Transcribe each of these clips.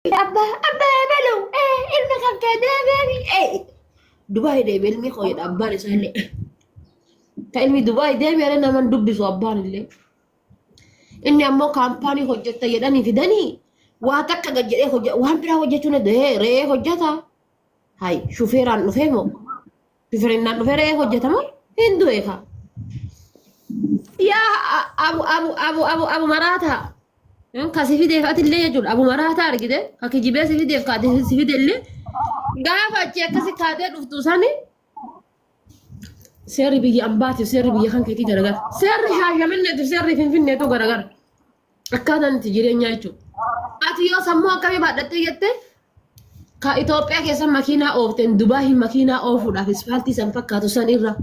Abba abba ebalu eh ilma kan kee deebi'ani eh Dubaay deebi ilmi koo jedha abbaan isaa illee ta ilmi Dubaay deebi jedhee naman dubbisu abbaan illee inni ammoo kaampaanii hojjetta jedhanii fidanii waa takka gad jedhee hojja waan biraa hojjechuu ni dee re'ee hojjeta hay shufeeraan dhufee moo Shufirinnaan dhufee re'ee hojjetama hin du'e kaa. Yaa a- abu abu abu abu abu maraataa. Hin ka si fideef atillee jechuudha. Abu maraataa argite ka kijibee si fideef ka ati si fidellee gaafa achi akkasi kaatee dhuftu sani seerri biyya ambaatiif seerri biyya kan keetii garagara. Seerri shaashaminneetiif seerri finfinneetu garagara. Akkaataan itti jireenyaa jechuudha. Ati yoo sammuu akkamii baadhattee jettee ka Itoophiyaa keessa makiinaa oofteen Dubaayi makiinaa oofuudhaaf ispaaltii san fakkaatu san irra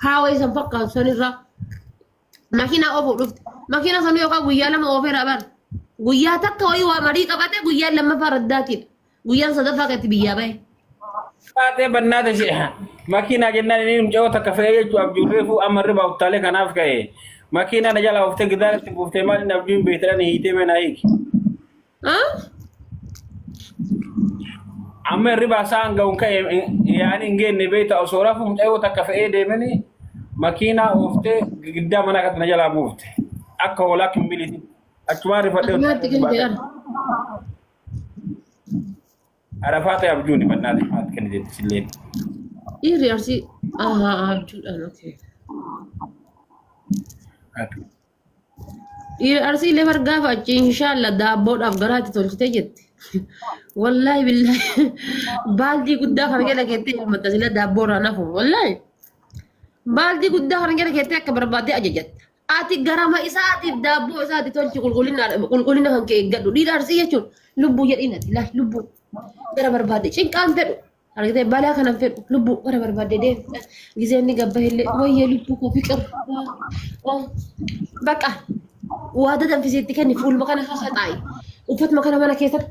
haawee san fakkaatu san irra makiinaa oofuu dhufte. Makiinaa san yookaan guyyaa lama oofeera bara. Guyyaa takka wayii waa marii qabate guyyaa lammaffaa raddaatiidha. Guyyaan sadaffaa kan itti biyyaa bahe. Baatee bannaa tashe makiinaa jennaan inni mucayoo takka fe'ee jechuun abjuun reefuu amma irra uttaalee kanaaf ka'e makiinaa na jalaa oftee gidaara itti buuftee maal inni abjuun beektan hiitee meenaa hiiki. Ah? Amma irribaa isaan ga'uun ka'e yaa'anii hin geenne beekta osoo rafuu mucayoo takka fe'ee deemanii makiinaa oftee giddaa manaa kan na jalaa buufte akka hoolaa kimbiliiti. Achumaan rifadhee Akkumaatti kan jedhan. Arafaa ta'e abjuun himannaa ta'e maal kenna jetti silleen. Dhiirri arsii ahaa abjuudhaan okay. Dhiirri arsii illee bar gaafa achi inshaalla daabboodhaaf garaa itti tolchitee jetti. Wallaahi billaahi baaldii guddaa kana jala keettee elmatta sila daabboorraa nafu wallaahi. Baaldii guddaa kana jala keettee akka barbaadde ajajatta. Ati garama isaatiif daabboo isaati tolchi qulqullina qulqullina kan kee eeggadhu. Dhiira arsii jechuun lubbuu jedhiin ati laal lubbuu gara barbaadde cinqaan fedhu. Argitee balaa kanan fedhu lubbuu gara barbaadde deemu. Gizeen ni gabba illee wayyee lubbuu koo fiqir. Bakka waada danfisiitti kenni fuuluma kana haxaa'i. Uffatuma kana mana keessatti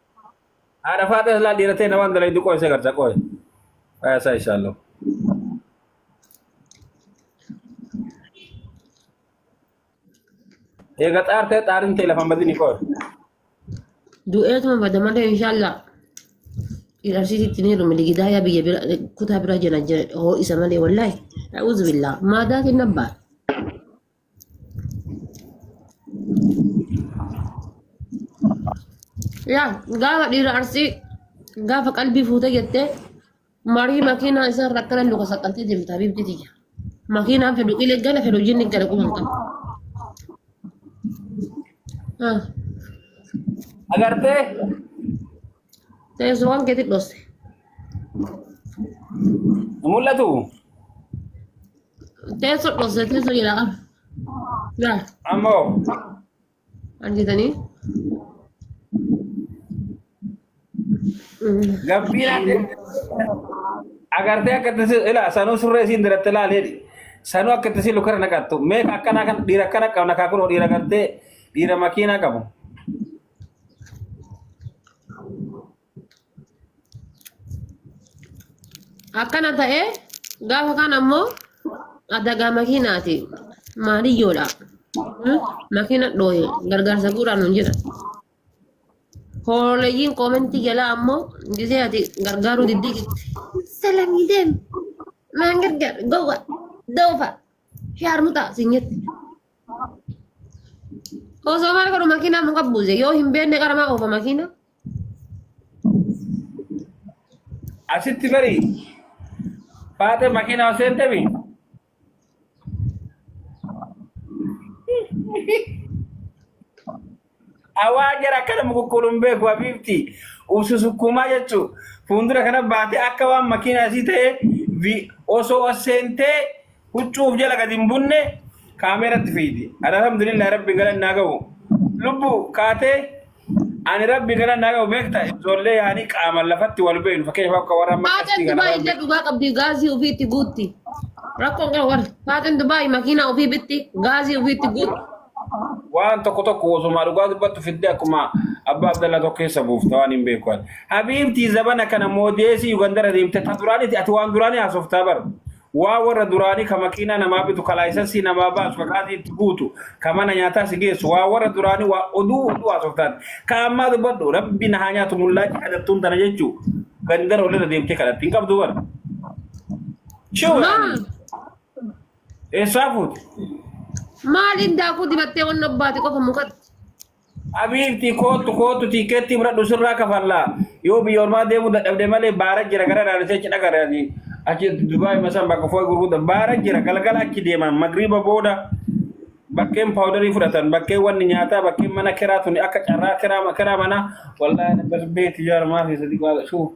Haadha faadha ilaa dhiiratee na waan dalaydu qo'e isa garta qo'e. Aya isaa ishaallah. Eega xaartee xaarin ta'e lafa madini qo'e. Du'eetuma bada malee inshaallah. Dhiirarsiis ittiin heerume ligidaayaa biyya bira kutaa bira jira jira hoo isa malee wallaahi. A'uuzu billaa. Maadaa kenna abbaa. yaa gaafa dhiira arsii gaafa qalbii fuute jettee marii makiinaa isaa irra akkana luka saqqaltee deemta habiibti tiyya makiinaan fedhu ile gala fedhu hojiin gala quban qabu Ah. Agartee? Teessoo waan keetti dhosse. Mul'atu. Teessoo dhosse teessoo jedha qaba. Yaa Ammoo. argitanii. Gabbiina agartee akka itti si- ilaa sanuu surree isiin diratti ilaalee sanuu akka itti si lukara naqattu meeqa akkanaa kan dhiira akkana qabna kaa kunoo dhiira gartee dhiira makiinaa qabu. akkana ta'ee gaafa kaan ammoo adagaa makiinaati maaliyyoodha Hmm? makiina dhooye gargaarsa guuraa nuun jedha hooleyyiin koomentii jalaa ammoo gisee ati gargaaruu diddii jirti salamii deem maan gargaar gowwa doofa shaarmuxaa sin jette Osoo maal godhu makiinaa muka buuse yoo hin beekne qaramaa oofa makiina. Asitti bari baatee makiinaa osoo hin deebiin. Awaa jara akkana mukukkuuluun beeku habiibti ubsu sukkuumaa jechuu fuuldura kana baatee akka waan makiinaa isii ta'e vi- osoo as seentee huccuuf jala gadi hin bunne kaameeratti fiidi. Ani alhamdulillah rabbi galan naa ga'u. Lubbu kaatee ani rabbi galan naa ga'u beekta ijoollee yaanii qaamaan lafatti wal beeknu fakkeenyaaf akka warra amma Faaxeen qastii kana Dubaay warra illee dhugaa qabdi gaazii ofiitti guutti. Rakkoon qaba warri. Faaxeen Dubaay makiinaa ofii bitti gaazii ofiitti guutti. waan tokko tokko osuma dhugaa dubbattu fidde akkuma abbaa abdallaa tokko keessa buufta waan hin beeku ati. Habiibtii zabana kana moodeesii Yugandara deemte ta duraaniti ati waan duraanii haasoftaa bar. Waa warra duraanii ka makiinaa namaa bitu ka laayisansii namaa baasu ka gaazii itti guutu ka mana nyaataa si geessu waa warra duraanii waa oduu oduu haasoftaan. Ka ammaa dubbadhu rabbi na haa nyaatu mullaachi kadhattuun tana jechuu gandara olirra deemtee kadhatti hin qabdu bar. Shiwa. Maal? Eessaa fuute? Maal indaakuu dibattee wanna obbaate qofa mukatti. Abiibti kootu kootu tiikeettii fudhadhu sirraa kafallaa. Yoo biyya ormaa deemuu dadhabde malee baara jira gara naannisee achi dhaqare ati. Achi Dubaay masan bakka foo'i gurgudda baara jira galgala achi deeman magriiba booda bakkeen paawudarii fudhatan bakkeen wanni nyaataa bakkeen mana kiraa tuni akka carraa kiraa kiraa manaa wallaahi beeti jaara maafi sadi qaala shuu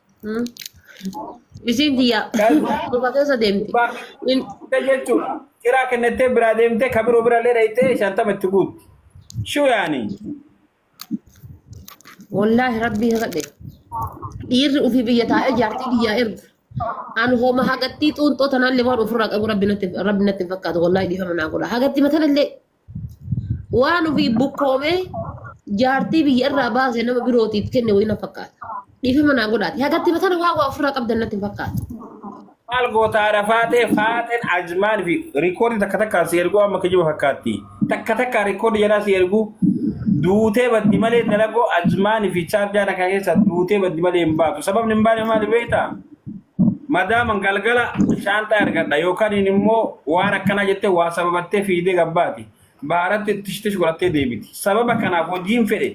Hmm. Isiin tiyyaa dhufa keessa deemti. In- Kuta jechuudha. Kiraa kennattee biraa deemtee ka biroo bira illee dhayxee shantama itti guutti. Shuu yaani. Wallaahi rabbii kakadhe. Dhiirri ofii biyya taa'ee jaartii biyyaa ergu. Ani hooma hagattii xuunxoo tanaallee waan ofirraa qabu rabbi natti rabbi natti hin fakkaatu wallaahi dhiifama naa godha. Hagattii matanallee Waan ofii bukkoomee jaartii biyya irraa baase nama birootiif kenne wayii na fakkaata. Dhiifama naa godhaati. Hagatti batana waa waa ofirraa qabdan natti hin fakkaatu. Maal gootaa rafaatee faaxeen ajmaan fi rikoodii takka takkaan si erguu amma kijiba fakkaatti. Takka takkaan rikoodii jalaa si erguu duutee baddi malee dalagoo ajmaan fi chaarjaan akka keessa duutee baddi malee hin baatu. Sababni hin baane maali beektaa? Madaaman galgala shaanxaa ergadha yookaniin immoo waan akkanaa jettee waa sababattee fiigdee gabbaati. Baaratti tish tish godhattee deebiti. Sababa kanaaf hojiin fedhe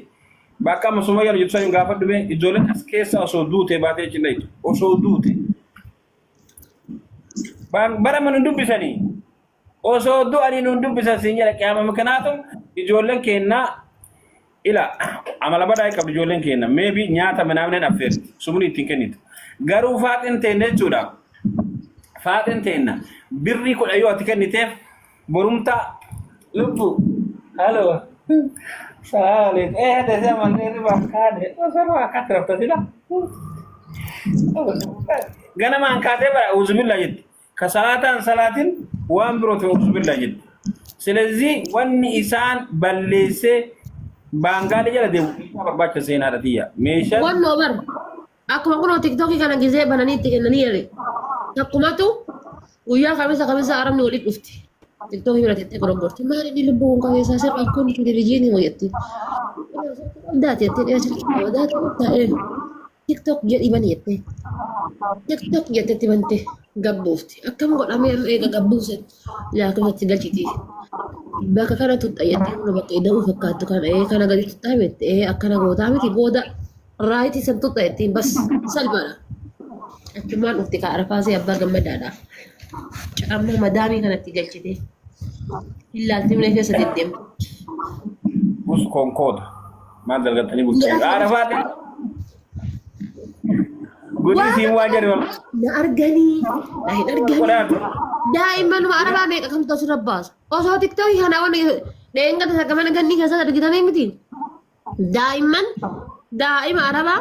bakka amma Sumayyaan hojjetu sana hin gaafadhu mee ijoolleen as keessa osoo duutee baatee achi hin dhayitu. Osoo duute. Baan- Bara mana hin dubbisanii. Osoo du'anii nuun dubbisan siin jedha qiyaama mikinaatu ijoolleen keenna ila amala badaa qabdu ijoolleen keenna meebi nyaata minaaminen affeerti sumni ittiin kennitu garuu faaxin teenna jechuudha faaxin teenna birrii kudha yoo ati kenniteef borumtaa lubbu haloo saaleef ee desee manneen ribaa kaadhe osoo ribaa akkaatti rafta sila ganamaan kaatee bara uuzubillaa jetti Kasalaatan salaatin waan birootiin uzubillah jedhe. Silezii wanni isaan balleessee baangaalee jala deemu meeshaa barbaacha seenaadha tiyya. Meeshaa Wannoo bar. Akkuma kunoo tiktokii kana gisee bananii itti kennanii jedhe. Takkumatu guyyaa kamisa kamisa arabni waliin dhufti. Tiktokii bira tettee goroggorti. Maali inni lubbuu kun qabeessaa sirri kun televizyiinii hojjetti. Daati jettee dhiyaachuu qabdaa ta'e. tiktok jedhi bani jette tiktok jettetti bante gabbuufti akkam godhamee amma eega gabbuuse laakifatti galchiti bakka kana tuqxa jettee mana bakka ida'uu fakkaattu kana ee kana gadi tuqxaa jette ee akkana gootaa miti booda raayitii san tuqxa jettiin bas salphaadha achumaan dhufti kaa arfaasee abbaa gammadaadha amma madaamii kanatti galchite hin laaltimne keessa deddeemte Us konkoota. Maal dalgattanii bultanii? Haadha faadhi. Godii siin waa jedhu. Na arganii. Na hin arganii. Qodaan. Daa'immanuma arabaa meeqa kamtu asirra baasu. Osoo tiktookii kana waan dheengata takka mana gannii keessatti argitamee miti. Daa'imman daa'ima arabaa